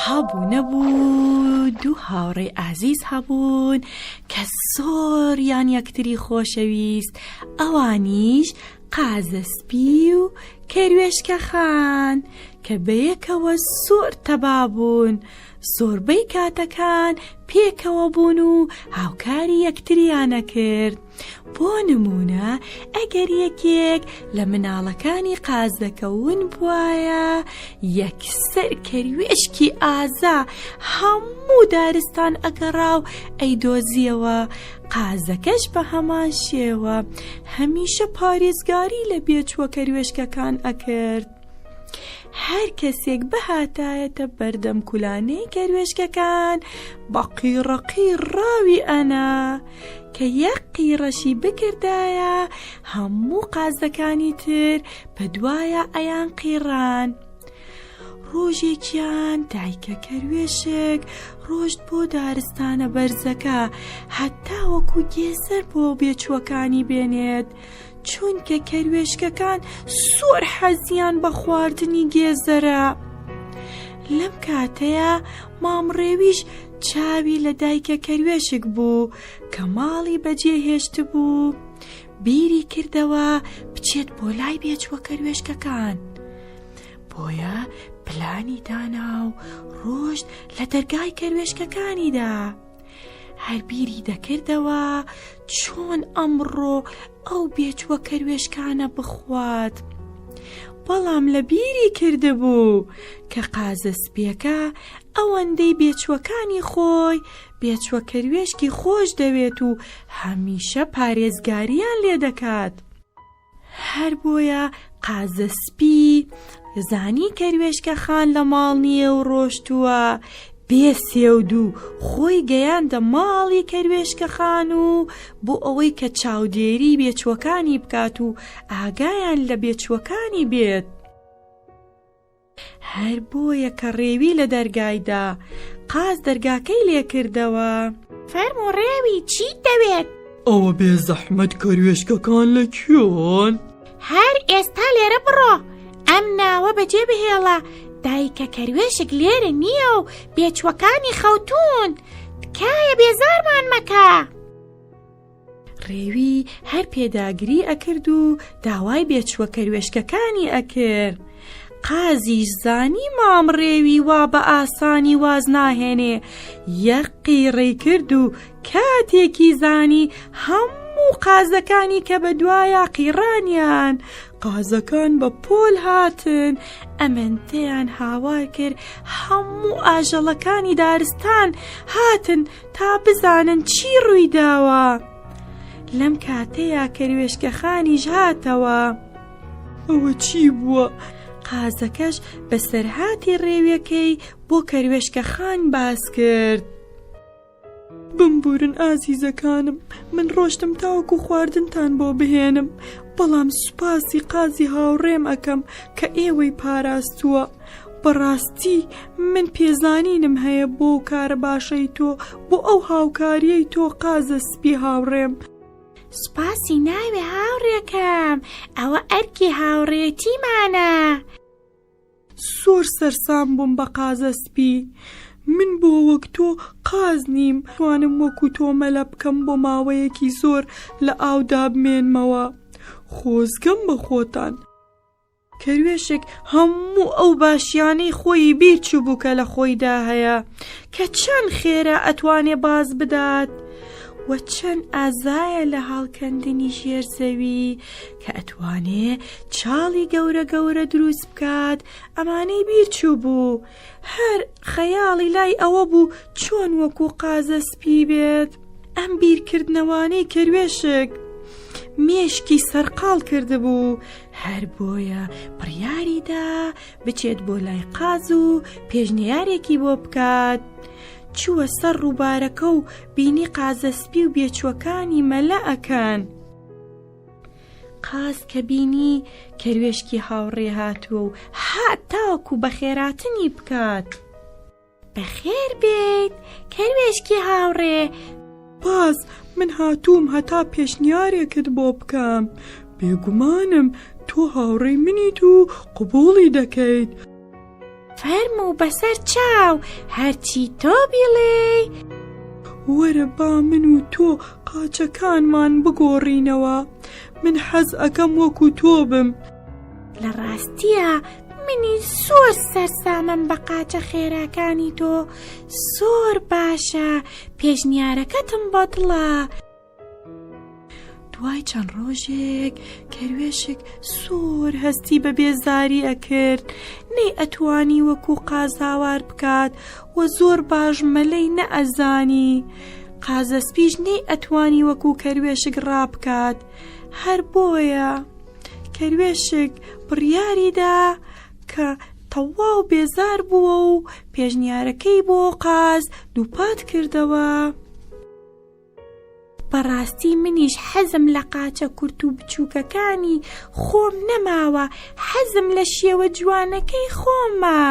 هەبوو نەبوو دوو هاوڕێی ئازیز هەبوون کە زۆریان یەکتری خۆشەویست ئەوانیش قازەسپی و کەروێشکە خان کە بەیەکەوە زۆر تەبابوون زۆربەی کاتەکان پێکەوە بوون و هاوکاری یەکتریانە کرد بۆ نمونە ئەگەر یەکێک لە مناڵەکانی قازدەکەون بواە یەکسەر کەروێشکی ئازا هەموو دارستان ئەگەڕا و ئەیدۆزیەوە قازەکەش بە هەمان شێوە هەمیشە پارێزگاری لە بێچووە کەروێشکەکان ئەکرد. هەر کەسێک بهاتایەتە بەردەم کولانەی کەروێشکەکان بە قیڕەقی ڕاوی ئەنا کە یەک قیڕەشی بکردایە هەموو قازەکانی تر بە دوایە ئەیان قیڕان. ڕۆژێکیان دایکە کەروێشک ڕۆشت بۆ دارستانە بەرزەکە هەتا وەکو گێسەر بۆ بێچووەکانی بێنێت چونکە کەروێشکەکان زۆر حەزیان بە خواردنی گێزەرە لەم کاتەیە مام ڕێویش چاوی لە دایکە کەروێشک بوو کە ماڵی بەجێ هێشت بوو بیری کردەوە بچێت بۆ لای بێچوە کەروێشکەکان بۆیە پلانی دانا و ڕۆشت لە دەرگای کەروێشکەکانیدا هەر بیری دەکردەوە چۆن ئەمڕۆ ئەو بێچوە کەروێشکانە بخوات. بەڵام لە بیری کردبوو کە قازە سپیەکە ئەوەندەی بێچوەکانی خۆی بێچوە کەروێشکی خۆش دەوێت و هەمیشە پارێزگاریان لێ دەکات. هەر بۆیە قازە سپی زانی کەروێشکە خان لە ماڵ نییە و ڕۆشتووە بێ سێودوو خۆی گەیاندە ماڵی کەروێشکە خان و بۆ ئەوەی کە چاودێری بێچووەکانی بکات و ئاگایان لە بێچووەکانی بێت هەر بۆیە کە ڕێوی لە دەرگایدا قاز دەرگاکەی لێکردەوە فەرمو ڕێوی چی دەوێت؟ ئەوە بێ زەحمەت کەروێشکەکان لە کوێن؟ هەر ئێستا لێرە بڕۆ ئەم ناوە بەجێ بهێڵە دایکە کەروێشک لێرە نییە و بێچوەکانی خەوتون تکایە بێزارمان مەکە. ڕێوی هەر پێداگری ئەکرد و داوای بێچووە کەروێشکەکانی ئەکرد. قازیش زانی مام ڕێوی وا بە ئاسانی واز ناهێنێ یەقی ڕێ کرد و کاتێکی زانی هەموو قازەکانی کە بە دوایە قیڕانیان قازەکان بە پۆل هاتن ئەمەندەیان هاوار کرد هەموو ئاژەڵەکانی دارستان هاتن تا بزانن چی ڕوویداوە لەم کاتەیە کەروێشکەخانیش هاتەوە ئەوە چی بووە؟ قازەکەش بەسەرهاتی ڕێویەکەی بۆ کەروێشکە خان باس کرد. بمبورن ئازیزەکانم من ڕۆشتم تاوەکو خواردنتان بۆ بهێنم بەڵام سوپاسی قازی هاوڕێم ئەەکەم کە ئێوەی پاراستووە بەڕاستی من پێزانینم هەیە بۆ و کارە باشەی تۆ بۆ ئەو هاوکاریەی تۆ قازە سپی هاوڕێم. سوپاسی ناوێ هاوڕێکەم ئەوە ئەرکی هاوڕێتیمانە. زۆر سەرسام بووم بە قازە سپی من بۆ وەک تۆ قاز نیم توانم وەکو تۆ مەلە بکەم بۆ ماوەیەکی زۆر لە ئاودا بمێنمەوە خۆزگەم بە خۆتان. کەروێشک هەموو ئەو باشیانەی خۆیی بیر چووبوو کە لە خۆیدا هەیە کە چەند خێرا ئەتوانێ باز بدات و چەند ئازایە لە هەڵکەندنی ژێر زەوی کە ئەتوانێ چاڵی گەورە گەورە دروست بکات ئەمانەی بیر چووبوو هەر خەیاڵی لای ئەوە بوو چۆن وەکو قازە سپی بێت ئەم بیرکردنەوانەی کەروێشک مێشکی سەرقاڵ کردبوو هەر بۆیە بڕیاری دا بچێت بۆ لای قاز و پێشنیارێکی بۆ بکات. چووە سەر ڕووبارەکە و بینی قازەسپی و بێچوەکانی مەلە ئەکەن. قاز کە بینی کەروێشکی هاوڕێ هاتووە و هاتاکو بەخێراتنی بکات. بەخێر بێیت کەروێشکی هاوڕێ. سپاس، من هاتووم هەتا پێشنیارێکت بۆ بکەم. بێگومانم تۆ هاوڕێی منیت و قبووڵی دەکەیت. فەرموو بەسەر چاو هەرچی تۆ بیڵێی. وەرە با من و تۆ قاچەکانمان بگۆڕینەوە. من حەز ئەکەم وەکو تۆ بم. لە ڕاستیە منی زۆر سەرسامم بە قاچە خێراکانی تۆ زۆر باشە پێشنیارەکەتم بە دڵە دوای چەند ڕۆژێک کەروێشک سۆر هەستی بە بێزاری ئەکرد نەی ئەتوانی وەکو قازاوار بکات و زۆر باش مەلەی نەئەزانی قازەسپیش نەی ئەتوانی وەکو کەروێشک ڕابکات هەر بۆیە. کەروێشک بڕیاریدا کە تەواو بێزار بووە و پێشنیارەکەی بۆ قاز دووپات کردەوە بەڕاستی منیش حەزم لە قاچە کورت و بچووکەکانی خۆم نەماوە حەزم لە شێوە جوانەکەی خۆمە.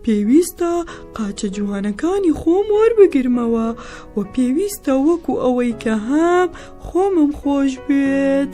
پێویستە قاچە جوانەکانی خۆم وەربگرمەوە و پێویستە وەکو ئەوەی کە هەم خۆمم خۆش بێت.